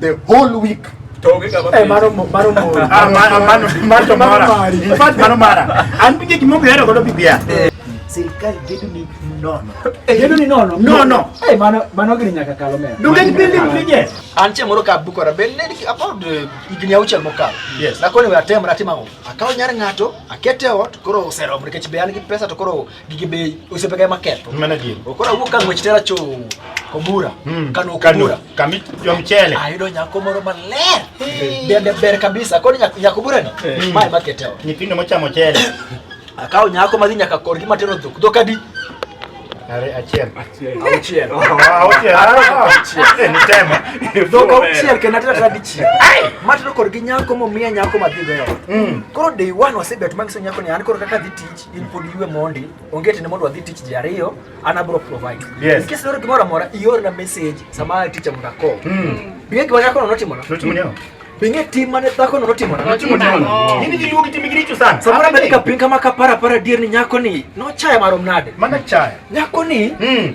the whole week Eh, mano mara an pinje gimogo yaro godo bibia eh. sirikal gedo ni nono eh, gedo ni nono nono eh mano mano gini nyaka kalo mera dugen bende pinje an che moro ka bukora ben ne about igni auchiel mokalo yes na koni atem ratima ngo akaw nyar ngato akete ot koro oserom nikech be an gi pesa to koro gige be osiepega ema ketho. Mano adier. Koro awuok ka ng'wech tera cho Kobura. Mm. Kano Kobura. Kami jo mchele. Ayudo nyako moro maler. Dende ber kabisa. Koro nyako nyako bura ni. Mm. Mae makete wa. Nyithindo mochamo chele. Akawo nyako madhi nyaka korgi matero dhok. Dhok adi? Are achiel. Achiel. Achiel. Achiel. Achiel. Ni tema. Dhok achiel kendo atero tera dichiel. Matero korgi nyako momiya nyako madhi goyo. Mm. Koro day one wasebet mangiso nyako ni an koro kaka dhi tich. in pod iwe mondi onge tene mondo wadhi tich ji ariyo an abro provide yes. in case loro gimoro amora iorna message sama ticha mondo ako mm. bing'e gima dhakono notimona notimona bing'e tim mane dhakono notimona nini giluongi timi giricho sana samoro abed ka piny kama kapara para dier ni nyako ni nochaya marom nade mana chaya nyako ni mm.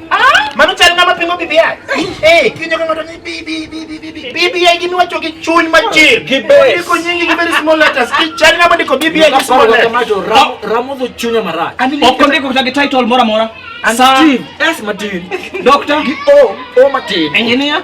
Mano chal ng'ama pingo BBI. Eh, kinyo ka ng'ato ni BBI. BBI gini wacho gi chuny machir. Gi base. Ndiko nyingi gi very small letters. Chal ng'ama ndiko BBI gi small letters. Ramo dho chunya marach. Ok ondiko kata gi title moro amora. Steve S. Martin. Doctor. Gi O. O. Martin. Engineer.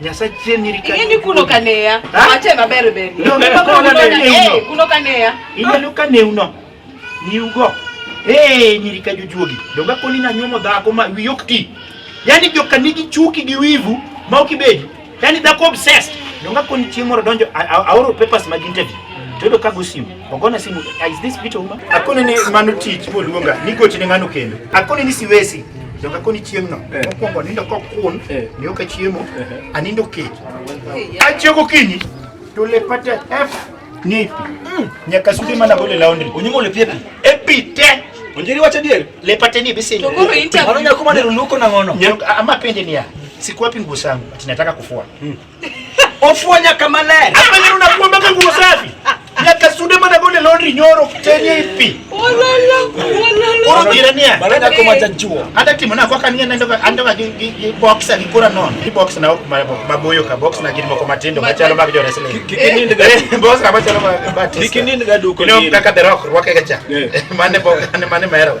Nyasaye chien nyiri ka. Ingeni kuno kaneya. Ache maber ber. No, no, kuno kaneya. Kuno kaneya. Ingeni kaneya uno. Ni ugo. Eh, nyiri ka jujuogi. Donga koni na nyuomo dhako ma wi ok ti. Yaani joka nigi chuki gi wivu ma ok ibedi. Yaani dhako obsessed. Donga koni chieng' moro donjo aoro papers mag interview. Todo ka go simu. Ogona simu. Is this Peter Uma? Akone ni mano tich moluonga. Nigochi ne ng'ano kendo. Akone ni siwesi. Joka koni chieng'no. Eh. Mokwongo anindo kokun. Eh. Ni oka chiemo. Eh. Anindo kech. Achiew gokinyi. To lepate F ni pi. Mm. Nyaka sude mana gole laundry. Onyimo le piepi. E pi te. Onjeri wacha dier. Lepate ni bisi. To koro interview. Ano nyakuma ne runuko na ngono. Nyaka ama pende ni ya. Sikuwapi nguo zangu. Ati nataka kufua. Mm. Ofuo nyaka maler. Hapa ndio unakuwa mpaka nguo safi. Nyaka sude mana gole laundry nyoro chenye ipi. Olala, olala. Oro kirania. Barada kwa machachuo. Hata timu na kwa kania na ndoka andoka gi box ali kura non. Gi box na maboyo ka box na gilimo kwa matindo machalo mag jona sele. Kikini ndiga. Eh, box na machalo mag batista. Kikini ndiga duko. Ino kaka the rock rwake gacha. Eh. Mane box mane mero.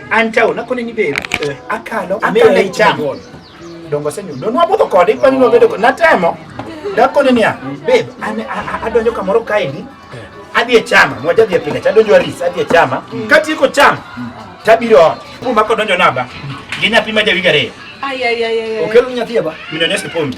Antawo na kone ni be eh, akalo akale cham. Dongo senyu. Don wabudho kode kwani no bedo na temo. Da kone niya babe ane adonjo kamoro kaeni. Adhi e chama, mwaja dhi e pinga, chadonjo aris, adhi e chama. Mm. Kati iko chama, tabiro ot. Puma kodonjo naba. Ginya pima jawiga re. Ay ay ay ay. Okelo nyathi aba. Minonyeshe pombe.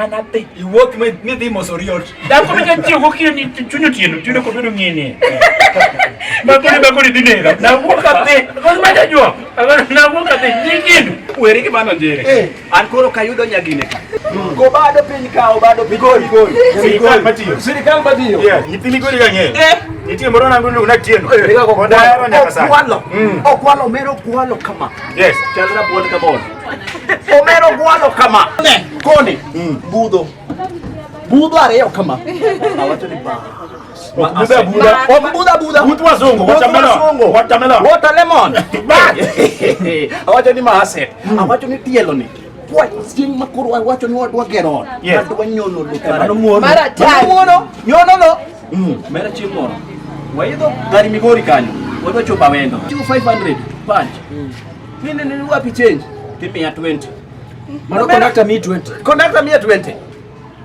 anadhi iwuok midhi moso riot dhako ma jachiew gokinyi chunyo tieno tiyudo kod bedo ng'ini makoni makoni dhi nega nawuok adhi kos ma jajua nawuok adhi nyikindu weri gi mano njere eh. an koro kayudo nyagine ka go bado piny ka obado piny gol gol sirikal matiyo sirikal matiyo nyithini goli ga ng'eyo eh. nitie moro nangu ni una tieno eh. okwalo okwalo mero okwalo kama yes chalra buon kama Omero gwalo kama. Ne, koni. Mm. Budho. Budho ariyo kama. Awacho ni ba. Buda buda. Wa buda buda. Mtu wazungu, watermelon. Watermelon. Watermelon. Ba. Awacho ni maase. Mm. Awacho ni tielo ni. Kwa sing makuru awacho ni wadwa geron. Yes. Wadwa nyono lukara. Mano muono. Mara tani. Muono. Nyono no. Mm. Mera chimono. Waidho gari migori kanyo. Wadwa chopa wendo. 2500 punch. Mm. Nini nini wapi change? Tipi ya 20. Mano conductor me 20. Conductor me 20.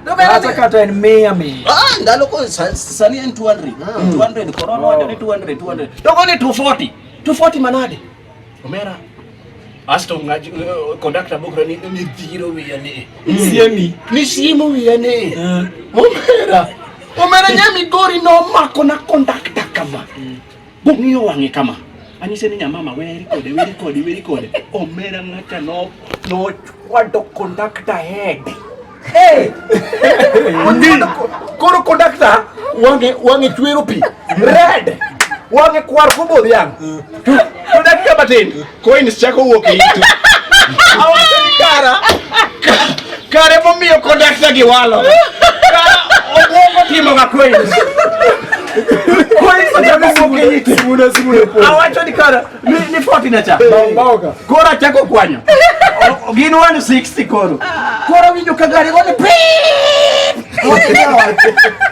Hata kata ni mia mia. Ah, ndalo ko sani ni 200. 200 corona wacho ni 200 200. Toko ni 240. 240 manade. Omera. Asto ngaji eh, conductor bokra ni ni dhiro wiya ni. Hmm. Siemi. Ni siemo wiya ni. Eh. Omera. Omera nyami gori no mako na conductor kama. Hmm. Bong'iyo wang'e kama. Anyise ni nyamama weri kode weri kode weri kode. Omera ng'ata no no kwado conductor head. Hey! Koro conductor wang'e wang'e chwero pi. Red. Wang'e kwar kobo dhiang'. Conductor matin. Coins chako wuok e itu. Awacho ni kara kare momiyo kondakta gi walo. Kara obwongo timo ga coins. Awacho ni kara ni foti na cha. Koro achako kwanyo. Gin 160 koro. Koro winjo ka gari gone pii.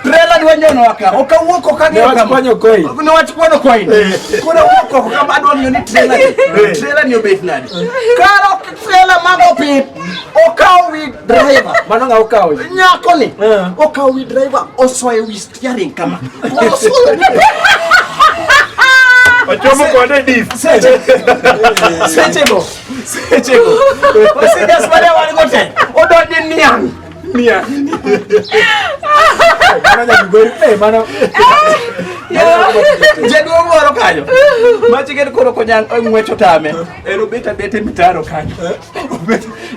Trela dwa nyono waka. Okawuok okagi okama. Niwachukua nyokoi. Niwachukua nyokoi. Kuna wuok oko kama adwa ng'eyo ni trela ni. Trela ni obet nadi. Karo trela mag opit. Okaw wi driver. Mano ng'a okaw? Nyako ni. Okaw wi driver osoyo wi steering kama. Osoyo. Ochomo kode diff. Seche. Seche go. Seche go. Osejas mane wan gote. Odonje niang'. Mia. Mana nyagori pe mana. Jaduo moro kanyo. Machi gen koro konyang ngwecho tame. En obeta bete mitaro kanyo.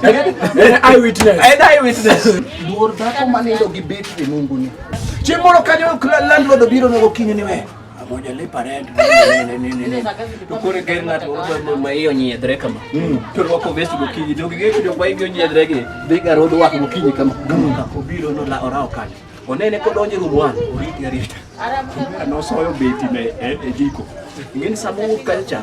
En eye witness. En eye witness. Duor dhako manindo gi betri nunguni. Chieng' moro kanyo landlord obiro nogo kinyo ni we. Amoja le parent nene nene nene. Tukure ker ngat wo ma iyo nyiedre kama. To rwako vest gokinyi to gige kido kwa iyo nyiedre gi. Biga rodo wako gokinyi kama. Ka obiro no la orao kale. Onene kodonje rumwan oriti arita. Ara mwana no soyo beti me e jiko. Ngeni samu culture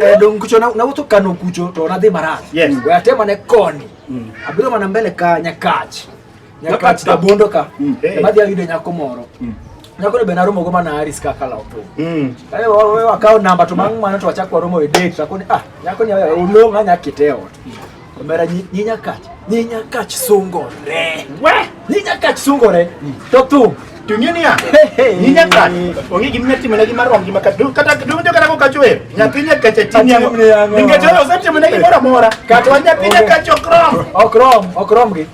Eh, dong kucho na na wuto kano kucho to na dhi marach. Yes. We atema ne koni. Mm. Abiro mana mbele ka nyakach. Nyakach da bondo ka. Mm. Hey. Eh. Madhi ayudo nyako moro. Mm. Nyako ne bena romo go mana Aris kaka la opo. Mm. Ayo eh, wa wa akaw namba to mang mana to achak waromo e date. Akoni ah nyako ni olonga nyakite ot. Mm. Omera nyinyakach, nyinyakach sungore. We! Nyinyakach sungore. To thum. Tung'e niya, nyinyakach, onge gima inyalo timone gi mar romgi ma kata kata donjo kata kokacho wer. Nyathi nyakach atini ang'o. Nikech oro osetimone gimoro amora. Kata wa nyathi nyakach ok rom. Ok rom, ok rom gi.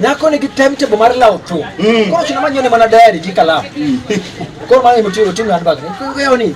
Nyako nigi timetable mar lawo thum. Koro chuna manyone mana diary gi kalam. Koro mano emotiyo oting'o handbag ni. Kuyoni.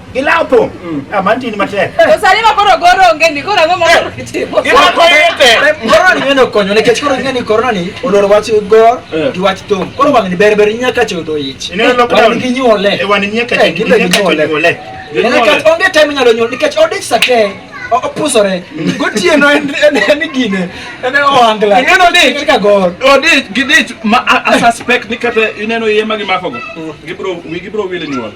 Gilapo. Mm. Ah, manti ni matek. To sani ma koro goro onge ni koro ang'o moro eh. kitimo. Gilapo yete. Eh, corona ni meno konyo ne kech koro ng'e ni corona ni oloro wach gor eh. gi wach thum. Koro wang' ni ber ber nyaka chodo ich. Ine lockdown. Wang' ni ginyuole. E wang' ni nyaka chodo ginyuole. Ine kech onge time nyalo nyuol nikech odich sate opusore mm. gotieno en gine en ohangla ineno dich ka gor odich gidich ma a suspect ni kata ineno iye ma gimakogo mm. gibro gibro wile nyuol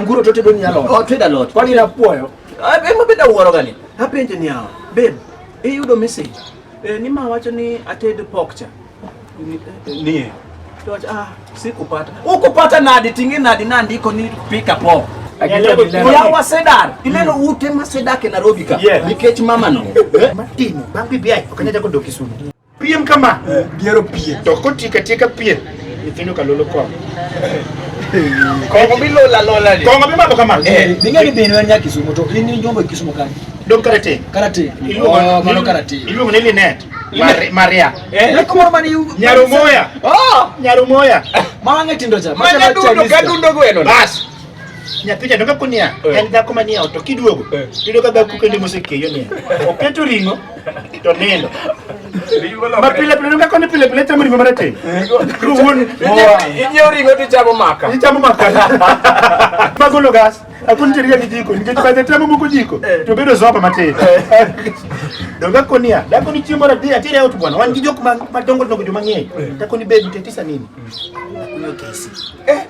Anguro to tedo ni alot. Oh, tedo alot. Kwani na puoyo. Ah, be mabeda wuoro gani. Apenje ni awa. Babe, iyudo message. Eh, ni ma wacho ni ated pork cha. Ni. Eh, to wacho ah, sikupata. Ukupata nadi tingi nadi na ndiko ni pika pork. Yawa Sedar, ineno hmm. ute ma Sedar ke Nairobi ka. Nikech mama no. Eh? Matino, bangi biai, okanya chako doki sunu. Piem kama. Eh. Diero piem. To kotika tika piem. Nyithindo kalolo kong. Kongo bilola lola ni. Kongo bimabo kama. Eh, ninga ni binu ya Kisumu to ini nyombo Kisumu kani. Dom karate. Karate. Oh, mano karate. Ilu ni Linet. Maria. Eh, lako mama ni Nyarumoya. Oh, Nyarumoya. Mama ngetindo cha. Mama dundo kadundo gweno. Bas. nyathija donge kunia eh. en dhako manie ot to kiduogo eh. iyudo ka dhako kende mosekeyo nia oketo ring'o to nindo ma pile pile nonga koni pile pile chamo ringo marateng ruwon inyiewo ringo to ichamo maka ichamo maka magolo gas akun chiriga gi jiko nikech baze tamo moko jiko eh. to bedo zopa matin eh. donga konia dako ni chiemo radi atire out bwana wan gi jok madongo dongo joma ng'eny eh. dako ni bedu tetisa nini akunyo kesi eh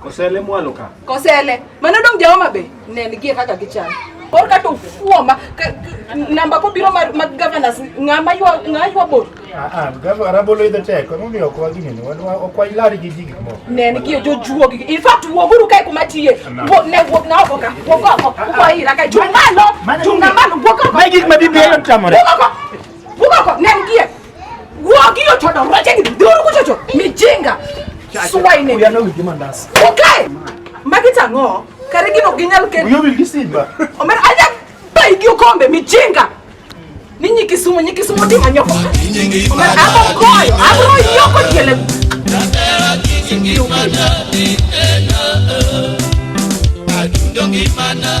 Kosele mwalo ka. Kosele. Mano dong jaoma be. Nen gie kaka gichal. Kor ka to fuoma namba ko biro mar mag governors ngama ywa ngama ywa bor. Ah ah, gava rabolo idho tek. Ko mi okwa gi nini? Wan okwa ilari gi jigi mo. Nen gie jo juo gi. In fact wo guru kai kuma tiye. Wo ne wo na wo ka. Wo ko ko. Wo ko ira ka jumalo. Jumalo wo ko. Mai gik ma bibi yo tamore. Wo ko. Wo ko. Nen gie. Wagio choda roje ni duru kuchocho. Mijinga. Suwa ine. We are not with him and us. Okay. Magita ngo. Kare gino ginyal ken. You will listen ba. Omer aja ba igio kombe mijinga. Ninyi kisumu nyi kisumu di manyoko. Omer abo koyo. Abo yoko kele. Natera kinyi kimana ni ena. Adundo kimana.